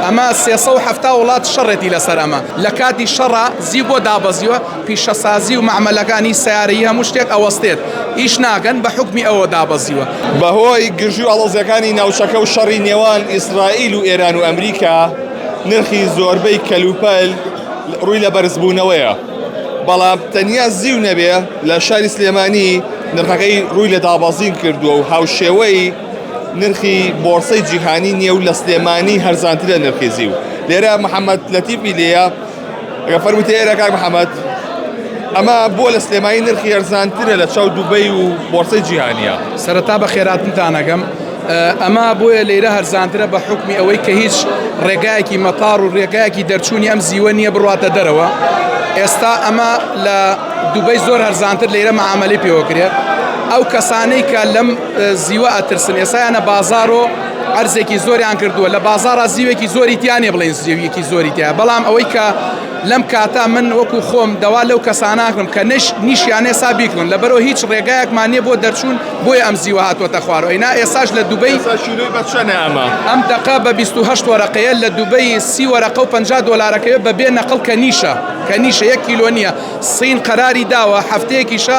ئەمە سێ سەد و حەفتا وڵات شەڕێتی لەسەر ئەمە لە کاتی شەڕا زیو بۆ دابەزیوە پیشەسازی و مەعمەلەکانی سەیارەی هەموو شتێک ئەوەستێت ئیش ناکەن بە حوکمی ئەوە دابەزیوە. بەهۆی گرژی و ئاڵۆزیەکانی ناوچەکە و شەڕی نێوان ئیسرائیل و ئێران و ئەمریکا نرخی زۆربەی کەلوپەل ڕووی لە بەرزبوونەوەیە بەڵام تەنیا زیو نەبێ لە شاری سلێمانی نرخەکەی ڕووی لە دابەزین کردووە و هاوشێوەی نرخی بۆڕسەی جیهانی نییە و لە سلێمانی هەرزانترە نرخی زیو لێرە محەممەد لەتیپی لێە ئەگە فەرمووتە ئێرە کاک محەممەد ئەمە بۆ لە سلێمانی نرخی هەرزانترە لە چاو دوبەی و بۆڕسەی جیهانیە سەرەتا بە خێراتنتانەگەم ئەما بۆیە لێرە هەرزانترە بە حکمی ئەوەی کە هیچ ڕێگایەکی مەتار و ڕێگایەکی دەرچوونی ئەم زیوە نییە بڕاتە دەرەوە ئێستا ئەمە لە دوبەی زۆر هەرزانتر لێرە مەعاملی پێوەکرێت ئەو کەسانەی کە لەم زیوە ئەترسن ئێسایانە بازار و ئەرزێکی زۆریان کردووە لە بازارە زیوێکی زۆری تیانێ بڵێن زیویەکی زۆری تیا بەڵام ئەوەی کە لەم کاتا من وەکو خۆم دەوا لەو کەسانناکرم کە نش نیشیانێ سا بیکردن لە بەرەوە هیچ ڕێگایەکمان نیە بۆ دەرچوون بۆی ئەم زیوە هاتووەتە خوارەوە ئینا ئێساش لە دوبەی بەچەنەمە ئەم دقا بە 28 وەرەقەیە لە دوبەی سی وەرەقە و 50 دلارەکەی بە بێ نەقل کە نیشە کە نیشە یەک کیلۆ نیە سین قەراری داوە هەفتەیەکیشە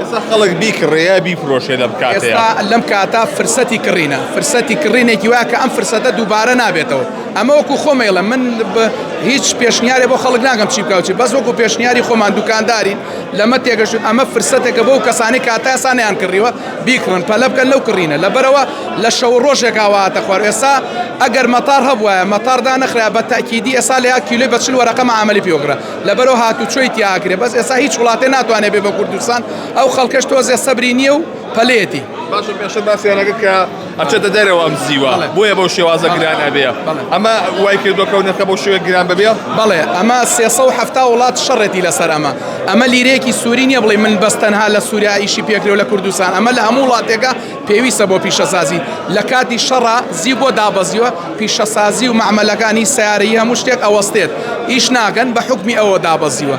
ئێستا خەڵک بیکڕێ یا بیفرۆشێ لەم کاتەیە ئێستا لەم کاتە فرسەتی کڕینە فرسەتی کڕینێکی وایە کە ئەم فرسەتە دووبارە نابێتەوە ئەمە وەکو خۆمەیڵە من بە هیچ پێشنیارێ بۆ خەڵک ناگەم چی بکوچی بەس وەکو پێشنیاری خۆمان دوکاندارین لەمە تێگەشت ئەمە فرسەتێکە بۆ کەسانی کاتاسانیان کڕیوە بیکڕن پەلە بکەن لەو کڕینە لەبەرەوە لە شەو ڕۆژێکاواتە خوار ئێستا ئەگەر مەتار هەبواە مەتاردان نەخرا بە تاکیدی ئێسا لە کیلوی بەچل وەرەقەمە عملی پێوەگرە لەبەرو هاتوچۆی تیاکرێ بەس ئێسا هیچ وڵاتێ ناتوانێت بێ بە کوردستان ئەو خەڵکەش تۆزێ سەبری نییە و پەلێتی باشە پێشە باسیانەکە کە ئەچێتە دەرەوە ئەم زیوە بۆیە بەو شێوازە گران ئەبێ ئەمە وای کردۆکەو نرخە بۆ شوێ گران ببێ بەڵێ ئەمە سێسە و هەفتا وڵات شەڕێتی لەسەر ئەمە ئەمە لیرەیەکی سووری نییە بڵێ من بەس تەنها لە سووریا ئیشی پێکرێ و لە کوردستان ئەمە لە هەموو وڵاتێکە پێویستە بۆ پیشەسازی لەکاتی شەڕا زیو بۆ دابەزیوە پیشەسازی و مەعمەلەکانی سەیارەی هەموو شتێک ئەوەستێت ئیش ناکەن بە حوکمی ئەوە دابەزیوە.